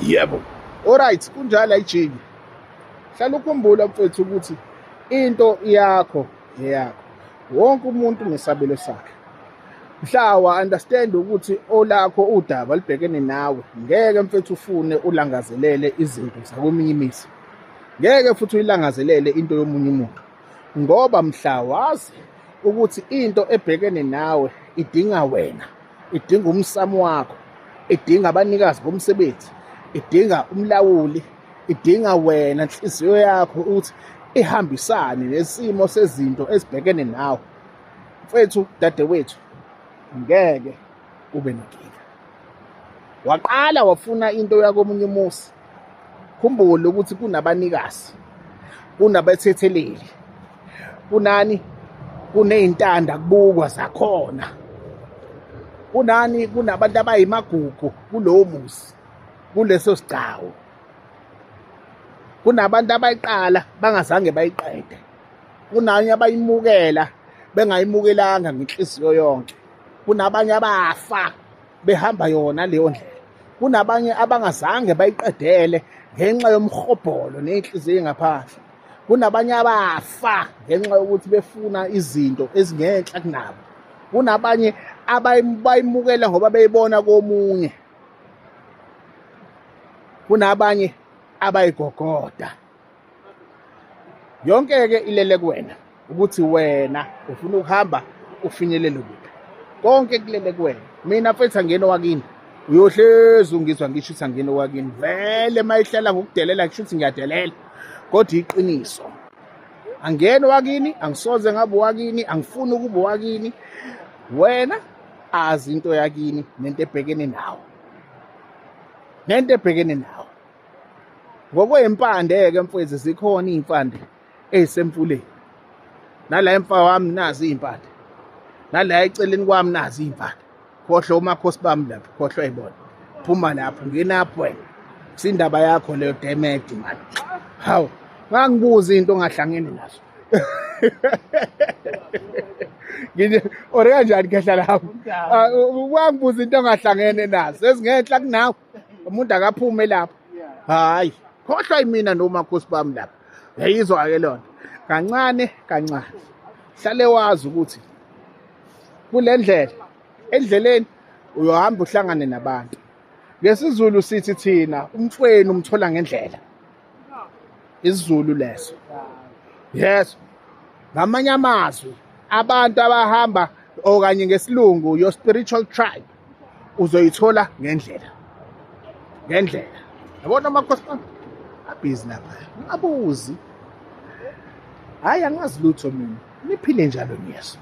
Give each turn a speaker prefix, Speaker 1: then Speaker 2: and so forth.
Speaker 1: yebo alright kunjalo ayijiki hlala ukhumbula mfethu ukuthi into yakho eyakho wonke umuntu nesabelo sakhe mhla wa understand ukuthi olakho udaba libhekene nawe ngeke mfethu ufune ulangazelele izinto zakweminye imizi ngeke futhi uyilangazelele into yomunye umuntu ngoba mhla wazi ukuthi into ebhekene nawe idinga wena idinga umsamo wakho idinga abanikazi bomsebenzi idinga umlawuli idinga wena nhliziyo yakho ukuthi ihambisane nesimo sezinto esibhekene nawe mfethu dadewethu ngeke ube nenkinga waqala wafuna into yakomunye umusi khumbule ukuthi kunabanikazi kunabethetheleli kunani kuneyintanda kubukwa zakhona kunani kunabantu abayimagugu kulowo muzi kuleso sigcawu kunabantu abayiqala bangazange bayiqede kunanye abayimukela bengayimukelanga ngenhliziyo yonke kunabanye abafa behamba yona leyo ndlela kunabanye abangazange bayiqedele ngenxa yomhobholo nenhliziyo engaphandle kunabanye abafa ngenxa yokuthi befuna izinto ezingenhla kunabo kunabanye abayimukela ngoba beyibona komunye kunabanye abayigogoda yonke-ke ilele kuwena ukuthi wena ufuna ukuhamba ufinyelele kuphi konke kulele kuwena mina mfethu angena owakini uyohlezi ungizwa ngisho ukuthi angena owakini vele uma ihlala ngokudelela kusho ukuthi ngiyadelela kodwa iqiniso angena owakini angisoze ngabe owakini angifuni ukuba owakini wena azi into yakini nento ebhekene nawo nento ebhekene nawo ngokwey'mpande-ke mfwezi zikhona iy'mpande eyisemfuleni nala emfa wami nazi iy'mpande nala eceleni kwami nazi iy'mpande khohlwa umakhosi bami lapho khohlwa ibona phuma lapho ngenapho wena kusindaba yakho leyo demedi mani hawu ngangibuza into ongahlangene nazo ngithi or kanjani khehla lapho wangibuza ah, into ongahlangene nazo ezingenhla kunawe umuntu akaphume lapho hayi khohlwa imina nomakhosi bami lapha yayizwa-ke lona kancane kancane hlale wazi ukuthi kule ndlela endleleni uyohamba uhlangane nabantu ngesizulu sithi thina umfweni umthola ngendlela isizulu leso yes ngamanye amazwi abantu abahamba okanye ngesilungu your spiritual tribe uzoyithola ngendlela ngendlela yabona amakhosi bami abhizi lapha abuzi hhayi angazi lutho mina niphile njalo niyezwa